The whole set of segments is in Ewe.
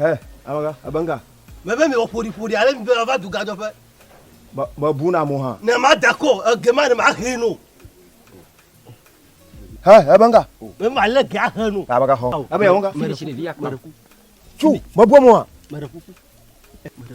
Hɛ, amega, ebe ŋga. Mebe mewɔ ƒoɖiƒoɖi ale mi be mava du gadzɔƒe. Mebu na mo hã. Ne mada kɔ, ege ma ne mahe no. Hɛ, ebe ŋga. Mebe malé ge ahe no. Amega xɔ. Ebe yewɔ ŋga. Meɖe kuku. Meɖe kuku. Tsu, mebu mo hã. Meɖe kuku. Meɖe kuku.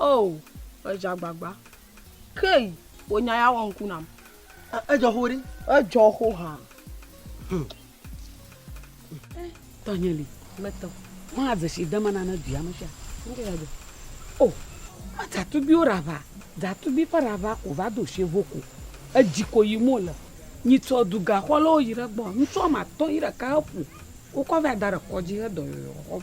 Oh edze agbagba. Key wò nya ya wɔ ŋku nam. Edzɔ xo ɖi. Edzɔ xo ha. Hmm. Tɔnye li. Metɔ. Maa dze si dama na ne dua me sia. Ŋkɛ ya dɔ. Oh. Ma dzatubi wo rava. Dzatubi ƒe rava ko va do sie vo ko. Edzi ko yi mo le. Nyi tsɔ du ga xɔ le wo yi ɖe gbɔ. Ŋtsɔ ma tɔ yi ɖeka he ƒu. Wo kɔ va da ɖe kɔdzi he dɔ yɔyɔ xɔm.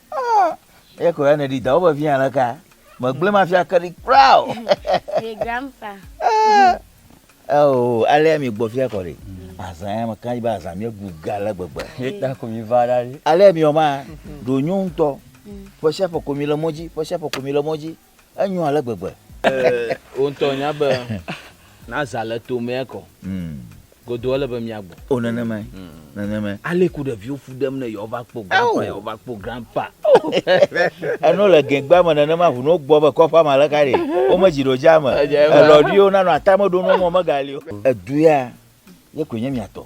Ah, eya ko ya nèɖi dawò vevie aleka? Megblẽ mafia ke ɖi kura o. Ye grandpa. Ah, oh, alea mi gbɔ fia kɔ ɖi. Azã ya meka ɖi be azã mi ebu ga ale gbegbe. Ye ta ko mi va ɖa ɖi. Alea mi wɔ ma, ɖo nyo ŋutɔ. Ƒe sia ƒe ko mi le mɔ dzi, ƒe sia ƒe ko mi le mɔ dzi. Enyo ale gbegbe. Wò ŋutɔ nya be na zã le tomea kɔ. Hmm. Godo ele be mia gbɔ. O nenemae. Hmm. Nenemae. Ale ku ɖeviwo fu ɖem ne yewo va kpɔ grandpa yewo va kpɔ grandpa. Eno le gɛgba me nenema ʋu no gbɔ be kɔƒa ma le ka ɖe. Wo me dzi ɖo dza me. Elɔ ɖiwo nanɔ atame ɖo no mo me gali o. Edu ya ye koe nye mia tɔ.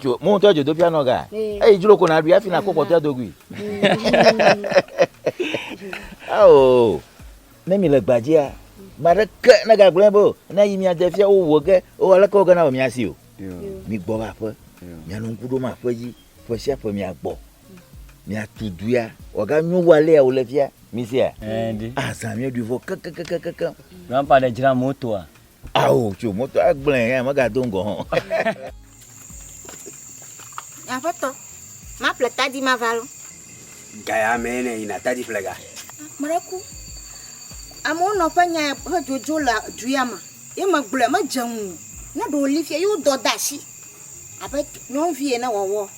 Dzo mo ŋutɔ dzodoƒia nɔ ga. Eyi dzro ko na ɖui hafi nakpɔ kpɔtɔa do gui. Ao ne mi le gbadzia maɖeke ne gagblẽ be ne yi mia de fia wo wo ge o aleke wo gena o mia si o. Mi gbɔ va ƒe. Mia no ŋku ɖo ma ƒe dzi ƒe sia ƒe mia gbɔ. Mia tu duia wo ga nyo wa le ya wo le fia mi sia. Azan mi ɖui vɔ kekekekeke. Grandpa de jra motoa. Ao, tso moto agblẽ ya megado ŋgɔ hã. Aƒetɔ, maƒle tadi mava lɔ. Gaya me ne yina tadi ƒlega. Mɖe ku. Amewo nɔ ƒe nya ƒe dzodzo le du ya me. Ye megblɔe, medze ŋu. Ne ɖe wòli fia, ye wodɔ de asi abe nyɔnuvi ene wɔwɔ.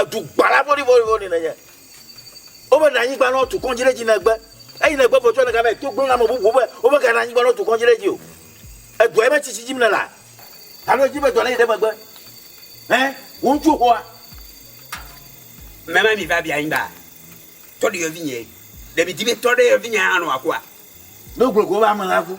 Edu gbala vɔɖivɔɖivɔɖi nènye. Womena anyigba na wotu kɔdzi ɖe edzi negbe. Eyi negbe vɔ tsɔ nèga va yi to gblɔ na ame bubuwo be womegana anyigba na wotu kɔdzi ɖe edzi o. Edua yi metsi si dzim nèlea? Alo èdi be dɔ nayi ɖe megbe? Ẽ, wò ŋutsuwo xɔa? Mema mi va bia anyigbaa? Tɔ ɖe yɔvinyee. Ɖe midi be tɔ ɖe yɔvinyee hã nɔ wòakua? Ne wogblɔ go wobe ameha ku.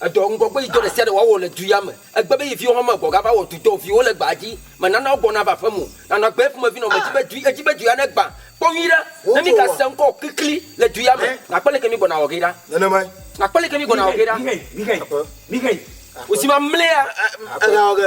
Edɔ ŋgɔgbeyidɔ ɖe sia ɖe wòawɔ le du ya me. Egbe be ye viwo hã me gbɔ gava wɔ dudɔ viwo le gbaa dzi. Menana wogbɔna va aƒem o. Nanɔ agbe eƒomevi nɔ medzi be du, edzi be du ya negbã. Kpɔ nyuiɖe, ne mígasẽ ŋkɔ o klikli le du ya me, nàkpɔ leke mígbɔna wɔ ge ɖa. Nenemae. Nàkpɔ leke mígbɔna wɔ ge ɖa. Wòsi mamlɛa. Aƒe.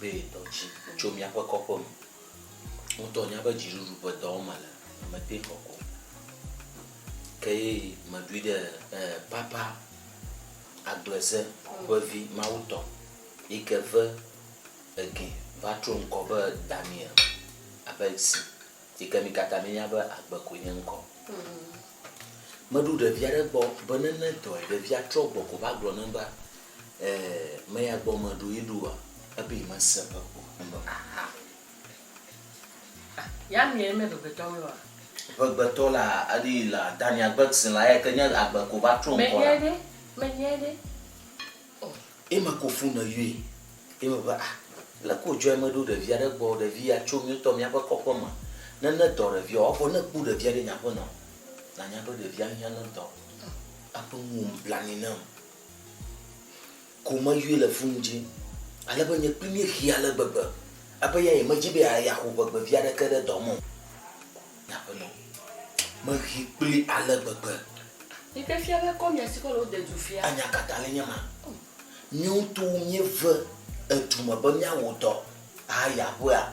Be dɔ dzi tso míaƒe kɔƒe me. Ŋutɔ nya be dziɖuɖu ƒe dɔm mele, mete ŋu xɔ ko. Ke ye meɖoe ɖe eh, Papa Agbleze ƒe vi mawutɔ yi ke ve egee va tro ŋkɔ be Daniel Abelsi yi ke mi katã mienya be Agbe koe nye ŋkɔ. Meɖo ɖevia ɖe gbɔ be ne nedɔe, ɖevia trɔ gbɔ ko va gblɔ nam be, Ɛɛ, meya gbɔ meɖo yi ɖoa, ebe yi mese ebe o. Enɔ. Aha. Ah, ya miɛ mɛ vegbetɔ mɛ wa? Vegbetɔ la, aɖi yi la, dani agbe gsn la, eya ke nye agbe ko va tro ŋkɔ la. Menyɛ ɖe, menyɛ ɖe. Ɔ. Yi me ko fu ne yɔɛ. Yi me be, ah, leke wo jɔɛ meɖo ɖevia ɖe gbɔ, ɖevi ya tso miotɔ miaƒe kɔƒe me. Ne ne dɔ ɖevia o, evɔ ne kpɔ ɖevia ɖe nye aƒe nɔ, na nya be ɖevia hiã ne dɔ. Ɔ. Eƒe nuwo me blanui nam. ko meyɔe le fu ŋdi, ale be nye kpli míehi ale gbegbe, ebe ya nyemedi be yeaxo ʋegbe vi aɖeke ɖe dɔ me o. Nye aƒenɔ, mehi kpli ale gbegbe. Yi ke fia be kɔ mia si kɔ le wode du fia. Anya ka tae nye ma? Mío ŋutɔwo míeve edu me be míawɔ dɔ ayi aƒea.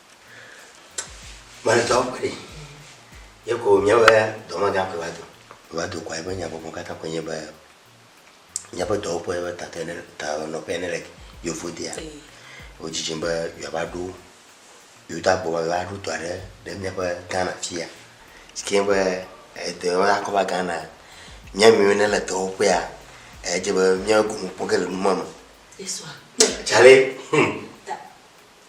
Mazɔ kpe ɖi. Ye ko míaƒe dɔmegã koe va do. Va do kɔa eƒe nyagɔme katã koe nye be míaƒe dɔwɔƒe ƒe tatɔe ne tanɔƒea ne le Yevodea. Wodzidzim be yeava ɖo Yuda gbɔ va va ɖo dɔ aɖe ɖe míaƒe Ghana fia. Si ke be edɔyɔyɔ akɔ va Ghana. Mía miwo ne le dɔwɔƒea edze be mía gome kpɔ ge le numa me. Tsale.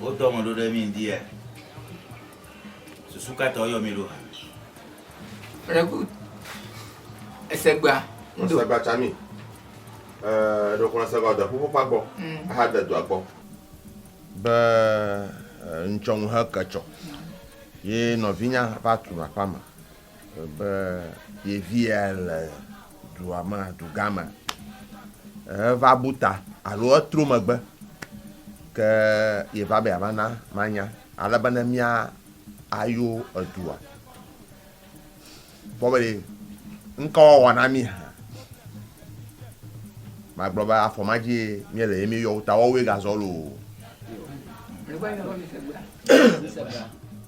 Wodɔ ame ɖo ɖe mí ŋdia? Susu ka ta woyɔ mí ɖo hã? Very good. Esegba. Ŋdɔ. Esegba tsa mí. Ɛɛ, ɖo xlɔ esegba de ƒuƒoƒa gbɔ. Mm. Aha de dua gbɔ. Be ŋtsɔ ŋu he ke tsɔ. Ye nɔvinya va tu aƒa me. Be yevia le dua me, dugã me, eva bu ta alo etro megbe, ke yeva be yeava na manya ale be ne mía ayo edua. Kpɔ be ɖe ŋka woawɔ na mí hã. Magblɔ be afɔ ma dzie míele ye míeyɔ wo ta woawoe gazɔ loo.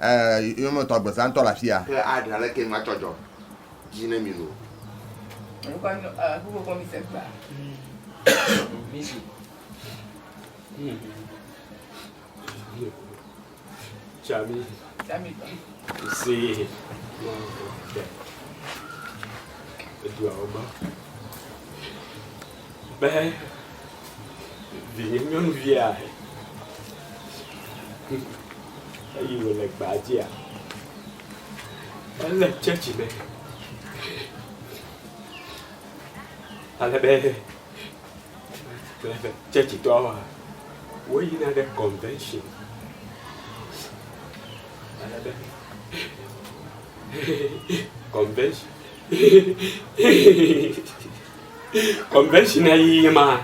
Ɛɛ, yɔ me tɔ agbesa ŋtɔ le afia. Ke aɖe aleke ŋu atsɔ dzɔ dzi ne mi nu. Mekɔ nu ɔ ku kɔkɔ mi se kpla. Mi si. Chami. Chami tɔ. Se. Edu awɔ ma. Be vinye nyɔnuvia eyi wòle gbaa dzia? Ele tsɛtsi me ale be alebe tsɛtsitɔwoa, woyina ɖe convention ale be convention. convention ya yi ye ma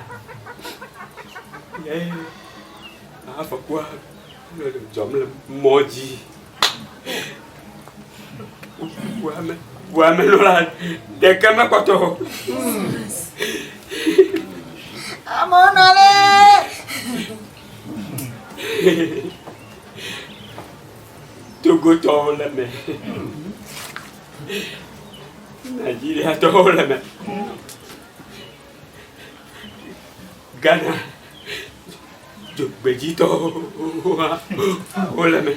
ye afɔkua le dzɔm le mɔ dzi ʋuame ʋuame lɔ la ɖeke mekpɔtɔ o. amewo nɔ lɛ. togotɔwo le mɛ. Nigeria tɔwo le me. Ghana dzogbedzi tɔwo wole me.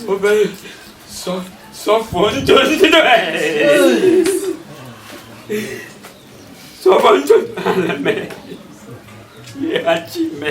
Wobe sɔ sɔfɔ ŋutsu ŋutsu ɖe. Sɔfɔ ŋutsu le me. Yɛ atsi me.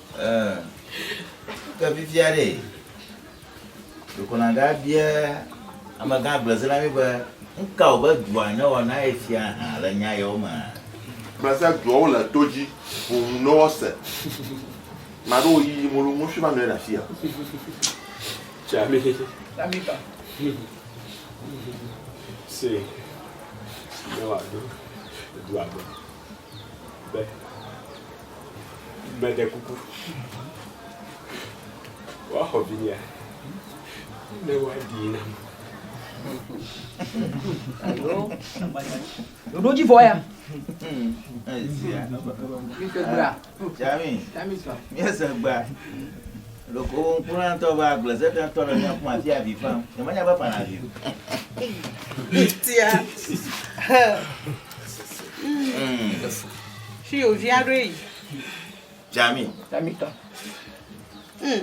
Ɛɛ, ke fifia ɖe, ɖeko nàɖe abia amegã agblezelã mí be, Nu ka wòbe dua newɔ na ye fia hã le nya yawo mea? Gbleza duawo le to dzi ʋuʋu ne woase. Ame aɖewo yiyim wolo mɔshua va nɔ anyi ɖe afia. Tsa mí ba. be meɖe kuku woaxɔ vinyea ne woaɖii nam. Alo, ɖoɖo dzi vɔ ya. Esia. Mi ke gbea. Jami, míese gbea ɖeko wo ŋkula ŋutɔ be agblezetetɔ le mía kuma fia avi fam. Nyemenya be fana avi o. Tia. Fi yo via ɖo yi. Jami. Jami tɔ. Hmm.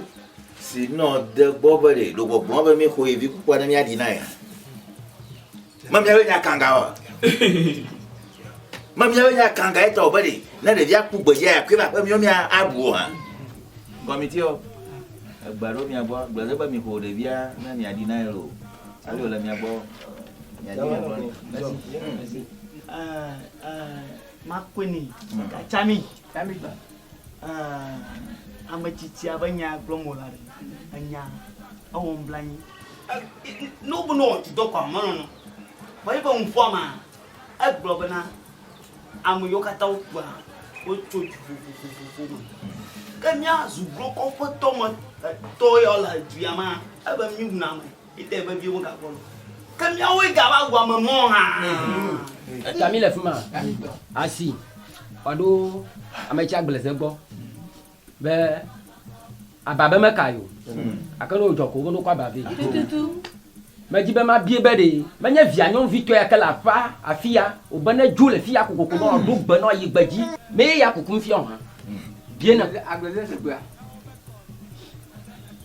Si nɔ de gbɔ be ɖe ɖogbɔgbɔ be mi xɔ yi vi kukua ne mía ɖi na ya. Mamiawo nya kanga wa. Mamiawo nya kanga etɔ be ɖe ne ɖevia ku gbedzia ya kpe va ƒe miwo mia aɖu o hã. Kɔmiti o. Egba ɖo mia gbɔ gblɔ ɖe be mi ƒo ɖevia ne mia ɖi na elo. Ali o le mia gbɔ. Mia ɖi mia gbɔ. Ah ah makweni. Katsami. Tamigba, Ãa, ame tsitsia ƒe nyaa gblɔm wòle aɖe. Enya, ewɔ nublanui. Ne wobe ne woatsi dɔ kɔa, melɔ̃na o. Vɔ eƒe nuƒoa mea, egblɔ bena, Ame yiwo katã wokua, wotso du vovovovo me. Ke mía zuglo kɔƒetɔ me tɔ ya le du ya mea, ele be míwuna ame. Ete vevie wogakpɔ nu. Ke míawoe gava wu ame mɔ hã. Eta míle fi ma asi wòaɖo ame tsi agbleeze gbɔ be aba be meka ye o. Gake ne wòdzɔ ko womene wokɔ aba vɛ. Medi be mabie be ɖe menye via nyɔnuvitɔ ya ke le aƒea afia wòbe nedzo le fiya kokoko ne wòaɖo gbe ne wòayi gbedzi ne ye ya kukum fia o hã? Bie nam.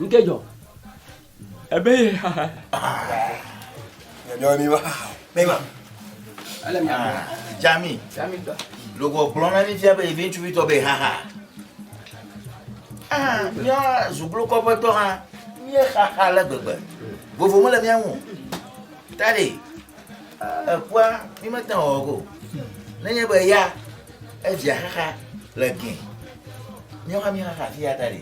nke dzɔ ebe ye nyɔnyɔ ni wa ne ma ele mi ame jami jami tɔ logɔ gblɔ na mi fia be evi ŋutsuvi tɔ be haha ah mía zuglo kɔƒe tɔ hã mía xaxa le gbegbe vovo mele mía ŋu ta ɖe. Eƒua mi mete ŋu awɔ o. Nenye be ya evia xaxa le gɛ. Míawo hã míxaxa fi ya ta ɖi.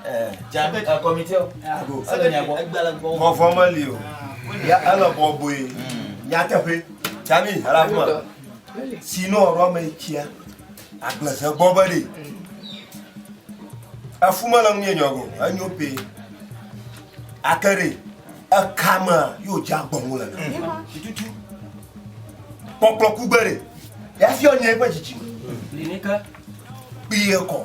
Eh, Jam eh, kɔmitewo ago ele mia gbɔ. Vɔvɔ meli o. Ya ele bɔbɔe. Mm. Nyateƒe. Jami ala kuma. Sinon ɔɖɔ me tsia. Agbleze gbɔ be ɖi. Efu mele nu yɛ nyɔgo. Enyo pe. Akere. Eka mea yóò dze agbɔn wole na. Tututu. Kpɔkplɔ ku gbe ɖe. Yafiɔ nye eƒe dzidzi me. Li ni ke. Kpie kɔ.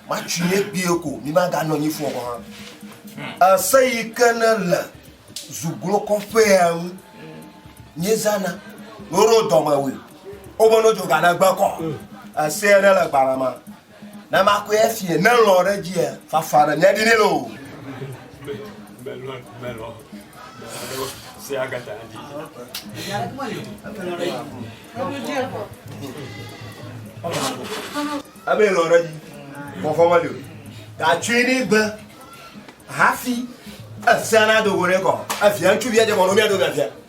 Matsi nye kpie ko. Mi ma ga nɔ nyi fɔ kɔ hã. Ese yi ke ne le zuglo kɔƒe ya ŋu. Nye zana. Noro dɔme wui. Obo no dzoga na gbe kɔ. Ese ya ne le gbara ma. Na makɔe afie, ne lɔ̃ ɖe edzia, fafa ɖe mía ɖi nɛ loo. Ebe lɔ̃ ɖe dzi, fɔfɔ meli o. Gatsɔe ne gbe hafi efia nadogo ɖe kɔ. Efia ŋutsuvi adze mɔ ɖo mía ɖo mía fia.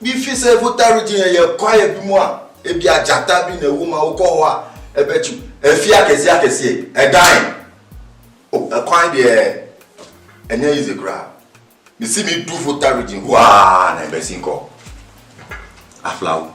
Bi fi se vo taru dzi ye kwa ye bi moa e bi ajata bi ne wo ma wo kɔ wa e be tsu e fi ake si ake si e gae o e kwa bi e e nye yi ze kura mi si mi du vo taru dzi wa ne be si kɔ aflawo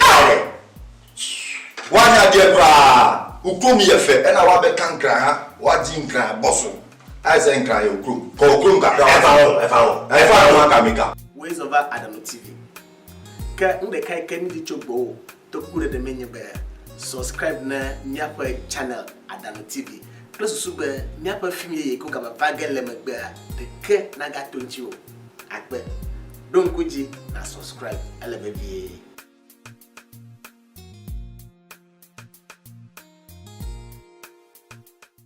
Ae! Woanya ɖie kura! Uklo mi efe ena wa be kankra ha wa dzi nkra bɔso. Ae ze nkra ye uklo. Kɔ uklo mi kakra wa. Efa ɔ, efa ɔ. Efa ɔ wa ka mi ka. Woe zɔ va Adamu TV. Ke nuɖekae ke mídi tso gbɔwò toku ɖeɖe me nye be subscribe ne míaƒe channel Adamu TV kple susu be míaƒe film yeye ko game va ge le megbea ɖeke nagato ŋutiwò. agbe. Ɖo ŋku edzi na subscribe ele vevie.